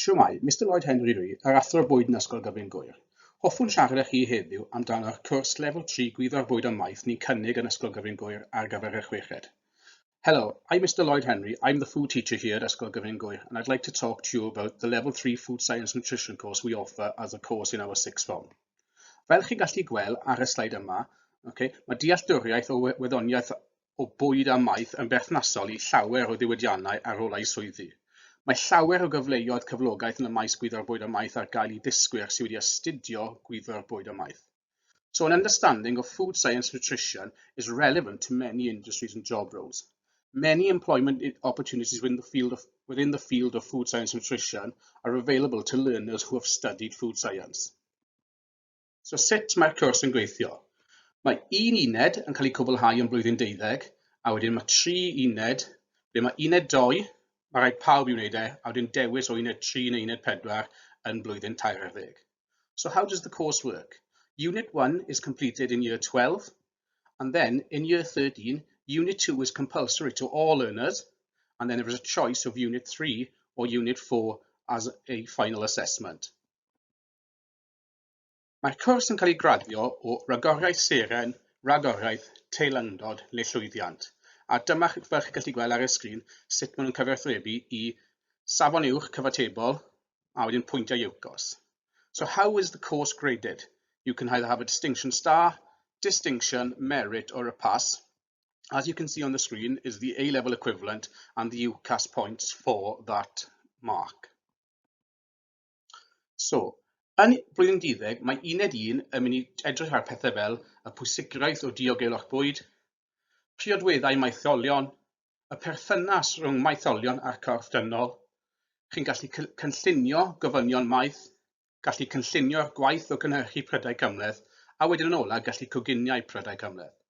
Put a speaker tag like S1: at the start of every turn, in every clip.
S1: Shwmae, Mister Lloyd Henry Rhi, yr Athro Bwyd yn Ysgol Gyfun Gŵyr. Hoffwn siarad â chi heddiw amdano'r cwrs Lefel 3 Gwyddor Bwyd a Maeth ni'n cynnig yn Ysgol Gyfun Gŵyr ar gyfer y chweched. Hello, I'm Mister Lloyd Henry, I'm the food teacher here at Ysgol Gyfun Gŵyr and I'd like to talk to you about the Level 3 Food Science Nutrition course we offer as a course in our sixth form. Fel chi'n gallu gweld ar y sleid yma, okay, mae dealltwriaeth o wyddoniaeth o bwyd a maeth yn berthnasol i llawer o ddiwydiannau ar ôl eu swyddi. Mae llawer o gyfleoedd cyflogaeth yn y maes gwyddor bwyd a maeth ar gael i ddysgwyr sydd wedi astudio gwyddor bwyd a maeth. So an understanding of food science nutrition is relevant to many industries and job roles. Many employment opportunities within the field of, within the field of food science nutrition are available to learners who have studied food science. So sut mae'r cwrs yn gweithio? Mae un uned yn cael ei cwblhau yn blwyddyn deuddeg, a wedyn mae tri uned, ble mae uned doi, mae rhaid pawb i wneud e, a wedyn dewis o uned tri neu uned pedwar yn blwyddyn tair ar ddeg. So how does the course work? Unit 1 is completed in year 12, and then in year 13, Unit 2 is compulsory to all learners, and then there is a choice of Unit 3 or Unit 4 as a final assessment. Mae'r cwrs yn cael ei graddio o Ragoriaeth Seren, Ragoriaeth, Teilyngdod neu Llwyddiant, a dyma fel chi'n gallu gweld ar y sgrin sut maen nhw'n cyfathrebu i safon uwch cyfatebol a wedyn pwyntiau UCAS. So how is the course graded? You can either have a distinction star, distinction, merit or a pass. As you can see on the screen is the A-level equivalent and the UCAS points for that mark. So, yn blwyddyn deuddeg, mae uned un yn mynd i edrych ar pethau fel y pwysigraeth o diogelwch bwyd, priodweddau maetholion, y perthynas rhwng maetholion a'r corff dynol. Chi'n gallu cynllunio gofynion maeth, gallu cynllunio'r gwaith o gynhyrchu prydau cymhleth, a wedyn yn ola gallu coginiau prydau cymhleth.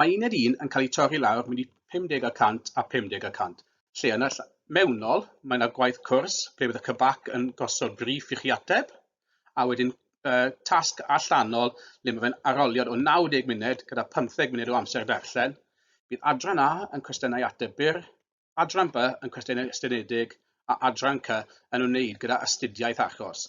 S1: Mae un i'r un yn cael ei torri lawr mynd i 50 y cant a 50 y cant. Lle yn y ll- mewnol, mae yna gwaith cwrs ble bydd y cybac yn gosod briff i chi ateb, a wedyn uh, tasg allanol le mae fe'n aroliad o 90 munud gyda 15 munud o amser darllen. Bydd adran A yn cwestiynau ateb byr, adran B yn cwestiynau estynedig a adran C yn wneud gyda astudiaeth achos.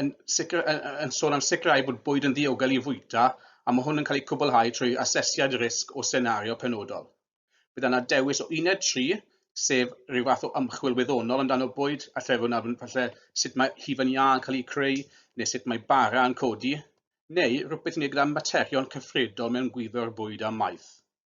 S1: yn, sicr, yn, yn sôn am sicrhau bod bwyd yn ddiogel i fwyta a mae hwn yn cael ei cwblhau trwy asesiad risg o senario penodol. Bydd yna dewis o uned 3, sef rhyw fath o ymchwil wyddonol amdano bwyd a trefwn ar falle sut mae hufen iâ yn cael ei creu neu sut mae bara yn codi, neu rhywbeth i wneud gyda materion cyffredol mewn gwyddo'r bwyd a maeth.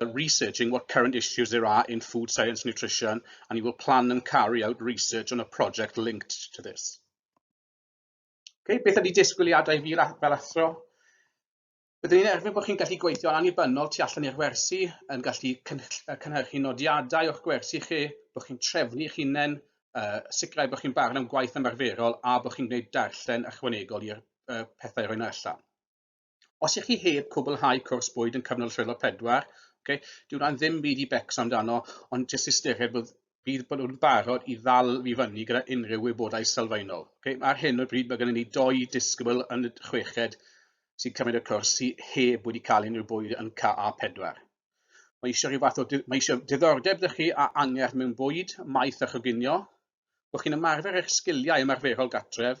S1: Well, researching what current issues there are in food science nutrition, and you will plan and carry out research on a project linked to this. Okay, beth ydy disgwyliadau fi fel athro? Byddwn ni'n erfyn bod chi'n gallu gweithio yn annibynnol tu allan i'r wersi, yn gallu cynhyrchu nodiadau o'ch gwersi chi, bod chi'n trefnu eich hunain, uh, sicrhau bod chi'n barn am gwaith ymarferol a bod chi'n gwneud darllen ychwanegol i'r uh, pethau rhoi allan. Os ych chi heb cwblhau cwrs bwyd yn cyfnod rhywle pedwar, okay, dyw hwnna'n ddim byd i becso amdano, ond jyst ystyried bod bydd bod nhw'n barod i ddal fi fyny gyda unrhyw wybodaeth sylfaenol. Okay? Ar hyn o bryd mae gennym ni doi disgybl yn y chweched sy'n cymryd y cwrs sy'n heb wedi cael unrhyw bwyd yn KA4. Mae eisiau rhyw fath o, mae eisiau diddordeb ydych chi a angerdd mewn bwyd, maeth a choginio, bod chi'n ymarfer eich sgiliau ymarferol gatref,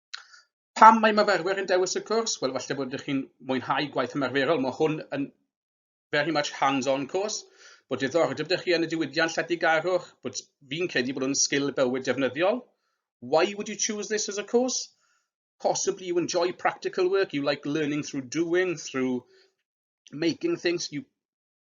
S1: Pam mae myfyrwyr yn dewis y cwrs? Wel, falle bod ydych chi'n mwynhau gwaith ymarferol. Mae hwn yn very much hands-on course, bod diddordeb ydych chi yn y diwydiant lletygarwch, bod fi'n credu bod hwn sgil bywyd defnyddiol. Why would you choose this as a course? Possibly you enjoy practical work, you like learning through doing, through making things, you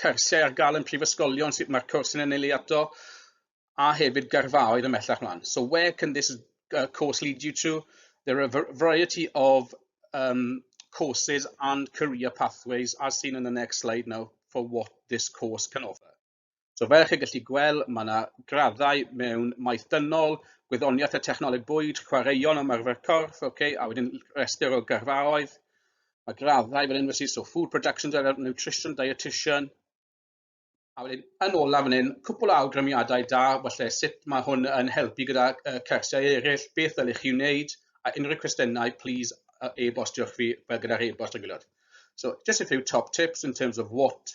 S1: cyrsiau ar gael yn prifysgolion, sut mae'r cwrs yn ennill ei ato, a hefyd gyrfaoedd ymellach mlaen. So where can this uh, course lead you to? There are a variety of um, courses and career pathways as seen in the next slide now for what this course can offer. So fel chi'n gallu gweld, mae yna graddau mewn maeth dynol, gwyddoniaeth a technoleg bwyd, chwaraeon ymarfer corff, okay, a wedyn rhestr o garfaoedd, Mae graddau fan hyn felly, so food production driver, nutrition dietitian. A wedyn yn olaf fan hyn, cwpl o awgrymiadau da, felly sut mae hwn yn helpu gyda uh, cyrsiau eraill, beth ddylech chi wneud, a unrhyw cwestiynau, please uh, e-bostiwch fi fel gyda'r e-bost yn gwylod. So just a few top tips in terms of what